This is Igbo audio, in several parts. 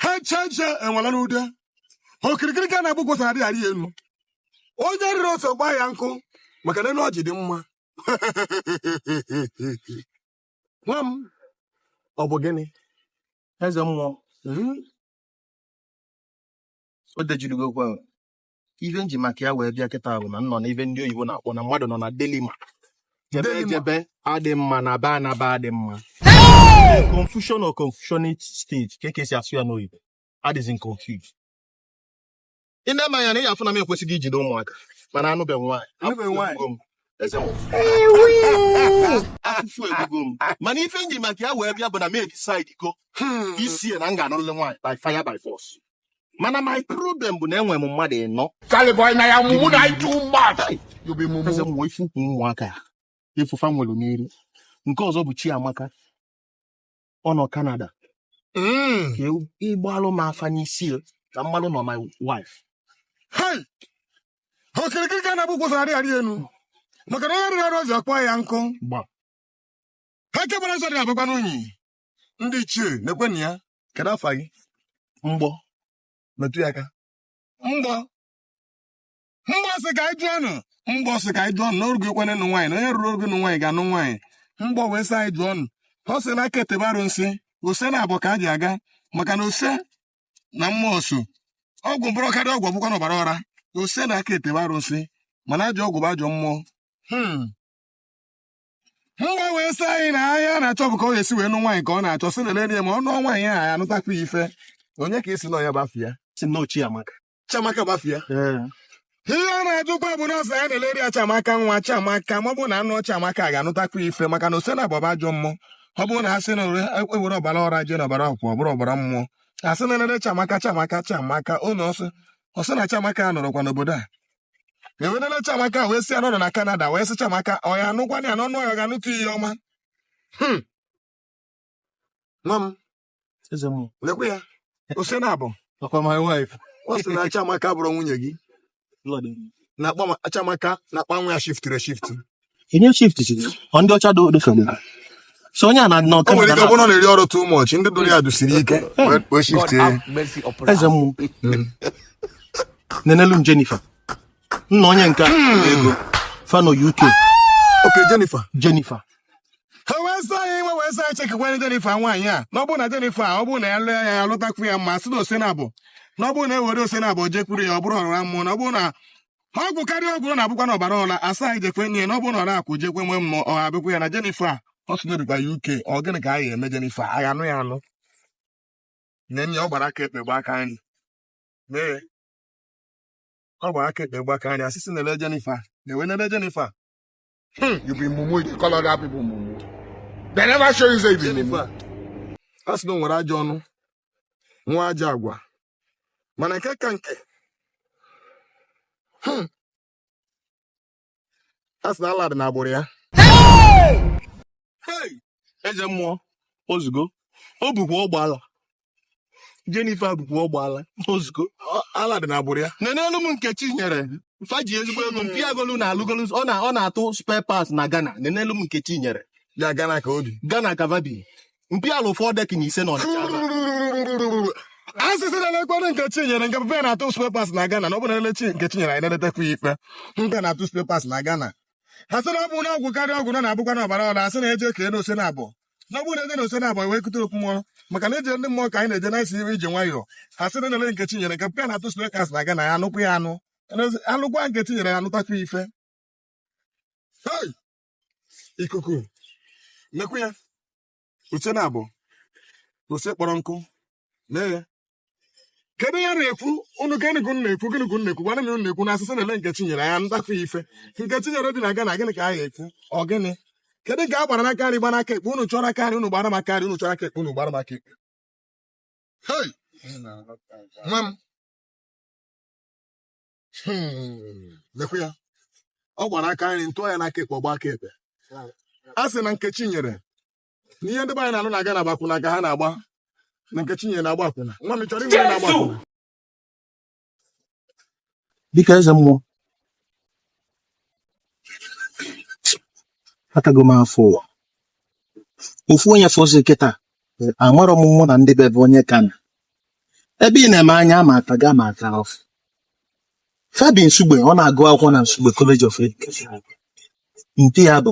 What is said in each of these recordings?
ha eche eche enwela n'ude okirikiri ka a na-agba ukwu ose adịghị arị ya elu onye rịrị ose kpaa ya nkụ maka na elu ọjị dị mma nwa m ọ bụ gịnị eze mmụọ o dejirigo okwu ahụ ife m ji maka ya wee bịa kịta bụ na m nọ na ife ndị oyibo na-akpọ na mmadụ nọ na dilemma jebe Dilemma. jebe adị mma nabe anaba adị mma confusion or confusionate stage ka eke si asụ ya n'oyibo adịzi m confused ị na-eme anya na ị afụ na m kwesịrị ijide ụmụaka mana anụbeghị nwaanyị Anụbeghị nwaanyị. Afụfụ egbugo m. Eze m. afụfụ egbugo m mana ife m ji maka ya wee bịa bụ na m edecidego isi ya na m ga-anụrịrị nwaanyị by fire by force mana my problem bụ na enwere m mmadụ ịnọ Caliboy na ya mumu na anyị too much. You be mumu. eze nwa ifu ukwu ụmụaka ya efufa nwere n'iri nke ọzọ bụ chiamaka ọ nọ kanada Mm. ka ewu- ị gbaalụ m afa n'isi ya ka m malụ na ọ my wife Hey! Okirikiri ka a na-agba ukwu ose adịghị arị elu. Maka na onye rịrị ọrụ ọzọ kpaa ya nkụ. gba Ha kebara nsọ dị abụkwa n'unyi. ndị ichie na-ekwenụ ya kedu afa gị mgbọ metụ ya aka mgbọ mgbọ sị ka anyị jụọ nụ mgbọ sị ka anyị jụọ nụ na o rugo ekwene nụ nwaanyị na onye ruru orugo nụ nwaanyị ga-anụ nwaanyị mgbọ wee sị anyị jụọ nụ ọ sị na aka ete bụ arụnsị ose naabọ ka e ji aga maka na ọ sị na mmụọ so ọgwụ mkpụrụ karịa ọgwụ ọ bụkwa na ọbara ọra ọ sị na aka ete bụ arụnsị mana ajọ ọgwụ bụ ajọ mmụọ hmm. mgbọ wee sị anyị na afa a na-achọ bụ ka ọ ga-esi wee nụ nwaanyị ka ọ na-achọ sị na lere ya ma ọ nụọ nwaanyị ahụ ya anụtakwu ya ife onye ka esi nọ ya bafia si na ochie amaka chiamaka bafia ihe ọ na-ajụkwa bụ nọọsụ ya na-eleri ya chiamaka nwa chiamaka ma ọ bụrụ na a nụ chiamaka a ga-anụtakwa ya ife maka na ose naabọ bụ ajọ mmụọ ọ bụrụ na a sị na e were ọbara ọra jee na ọbara akwụ ọ bụrụ ọbara mmụọ a sị na e lere chiamaka chiamaka chiamaka ụlọ ọ sị ọ sị na chiamaka anọrọkwa n'obodo a e wee nele Chiamaka wee sị ya nọdụ na Kanada wee sị Chiamaka ọ ya anụkwana ya na ọ nụ ya ọ ga-anụtụ ihe ọma Hmm. nwa m Eze m, lekwe ya ọ sị na abụrọkwa my wife. ọ sị na Chiamaka bụrụ nwunye gị Lord, na akpa- Chiamaka na akpa nwa ya shiftiri eshifti onye shiftiri ọ ndị ọcha do so na so onye a na nọ nwere ike ọbụna na-eri ọrụ too much ndị dụrụ ya dụsiri ike wee shift eze mmụọ nenelu m Jennifer nna onye nke ego fano UK okay Jennifer Jennifer ha wee sị anyị nwe wee sị anyị chekikwanye Jennifer nwaanyị a na ọ bụrụ na Jennifer ọ bụrụ na ya lụọ ya ya lụtakwu ya mma sị na ose naabọ na ọ bụrụ na e were ose naabọ jekwuru ya ọ bụrụ ọrụra mmụọ na ọ bụrụ na ọgwụ karịa ọgwụ ọ na-abụkwa na ọbara ọla a sị anyị jekwe nye na ọ bụrụ na ọ na-akwụ jekwe nwee mmụọ ọ abịakwa ya na Jenifa ọ sụnyerikwa ya uke ọ gịnị ka anyị eme Jenifa anyị anụ ya anụ nye nye ọ gbara aka ekpe gba aka nri nee ọ gbara aka ekpe gba aka nri asịsị na-ele Jenifa na-ewe na-ele Jenifa Hmm. You be mumu, you dey call other people mumu. They never show you say you be mumu. Jennifer, a sị na o nwere ajọ ọnụ nwee ajọ agwa mana nke ka nke hmm, a sị na ala dị n'agbụrụ ya Hey! eze mmụọ ozugo ọ bụkwa ọgba ala Jennifer bụkwa ọgba ala ozugo ala dị na agbụrụ ya nenelu m Nkechinyere fa ji ezigbo ego mpa ya golu na alụgolu ọ na ọ na-atụ spare parts na Ghana nenelu m Nkechinyere ya Ghana ka o bi Ghana ka va bi mpa ya alụ fọ decking ise na ọnịcha asịsị na-elekwana Nkechinyere nke papa na-atụ spare parts na Ghana na ọ bụ na elechi Nkechinyere anyị na-eletekwa nke mpa ya na-atụ spare parts na Ghana ha sị na ọ bụ na ọgwụ karịa ọgwụ na ọ na-abụkwa na ọbara ọla a sị na e je ka elu ose naabọ na ọ bụrụ na e je na ose naabọ wee kụta okwu mmụọ maka na ije ndị mmụọ ka anyị na-eje na-esi iwe ije nwayọọ ha sị na nele Nkechinyere nke papa na-atụ spare parts na Ghana na ya anụkwu ya anụ anụkwa Nkechinyere ya anụtakwa ife ikuku nekwu ya ose naabọ ose kpọrọ nkụ lee ya kedu ya na-ekwu ụnụ gịnị ka ụnụ na-ekwu gịnị ka ụnụ na-ekwu gwana m ụnụ na-ekwu na asịsị na-ele Nkechinyere ya ndakwa ife Nkechinyere dị na Ghana gịnị ka a ga-ekwu ọ gịnị kedu nke a gbara n'aka nri gbara aka ekpe ụnụ chọrọ aka nri ụnụ gbara m aka nri ụnụ chọrọ aka ekpe ụnụ gbara m aka ekpe Hey! nwa m Hmm, lekwa ya ọ gbara aka nri ntụọ ya n'aka ekpe ọgba aka ekpe a sị na Nkechinyere na ihe ndị be anyị na-anọ na Ghana akwụna ka ha na-agba na Nkechinyere na-agba akwụna nwa m chọrọ inwe na-agba akwụna dịka eze mmụọ atago m afụfụ ụwa ofu onye fọzi kịta amarọ m mụ na ndị bebe onye ka na ebe ị na-eme anya Amaka gị Amaka afụ fa bi Nsugbe ọ na-agụ akwụkwọ na Nsugbe College of Education nke ya bụ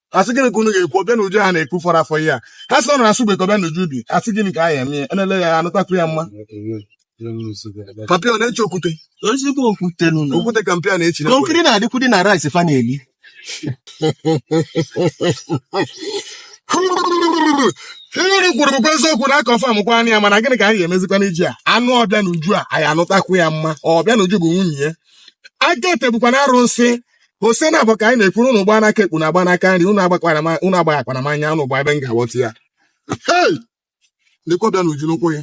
a sị gịnị ka unu ga-ekwu Obianuju ha na-ekwu fọrọ afọ ihe a ha sị ọ na Nsugbe ka Obianuju bi a sị gịnị ka a ya mee enele ya anụtakwu ya mma papa ya na-echi okwute ezigbo okwute nụ na okwute ka mpa ya na-echi n'ekwe. konkiri na-adịkwudi na rice fa na-eli ihe unu kwuru bụkwa eziokwu na aka ọfam kwa anya ya mana gịnị ka anyị ga-emezikwa n'iji a anụ Obianuju a anyị anụtakwu ya mma Obianuju bụ nwunye ya aka ete bụkwa na arụsị ose nabọ ka anyị na-ekwuru unu gba n'aka ekpe na-agba n'aka nri unu agbakwara m unu agbaghakwana m anya unu gba ebe m ga-aghọta ya Hey! Lekwa Obianuju n'ụkwụ gị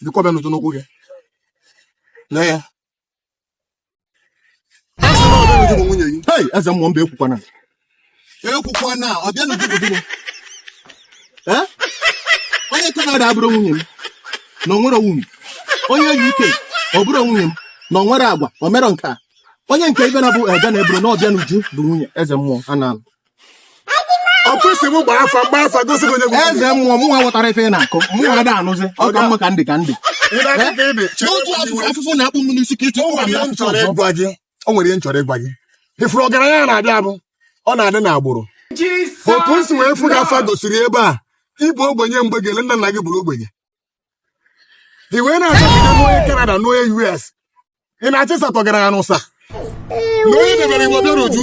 lekwa Obianuju n'ụkwụ gị lee ya Hey, eze mmụọ mba ekwukwana ekwukwana Obianuju obodo m onye kanada abụrụ nwunye m na onwere nwunye onye UK ọ bụrụ nwunye m na onwere agwa o mere nke a onye nke ibe na-abụ ega na eburu na Obianuju bụ nwunye eze mmụọ a na-alụ ọ kwesịrị m gbaa afa m gbaa afa gosi gị onye bụ eze mmụọ mụnwa ghọtara ife ị na-akọ mụnwa ada anụzi ọ ka mma ka ndị ka ndị Ị na-aga ka ị dị. n'otu afụfụ afụfụ na-akpụ m n'isi ka ịtụ Ọ bụ ihe m chọrọ ịgwa gị o nwere ihe m chọrọ ịgwa gị ị fụrụ ọgaranya a na-abụ abụ ọ na-adị n'agbụrụ otu m si wee fụ gị afa gosiri ebe a ị bụ ogbenye mgbe gele nna nna gị bụrụ ogbenye i wee na-achọ ka i je nụọ onye Canada nụọ onye US ị na-achị satọ gara ya n'ụsa na onye e debere gị bụ Obianuju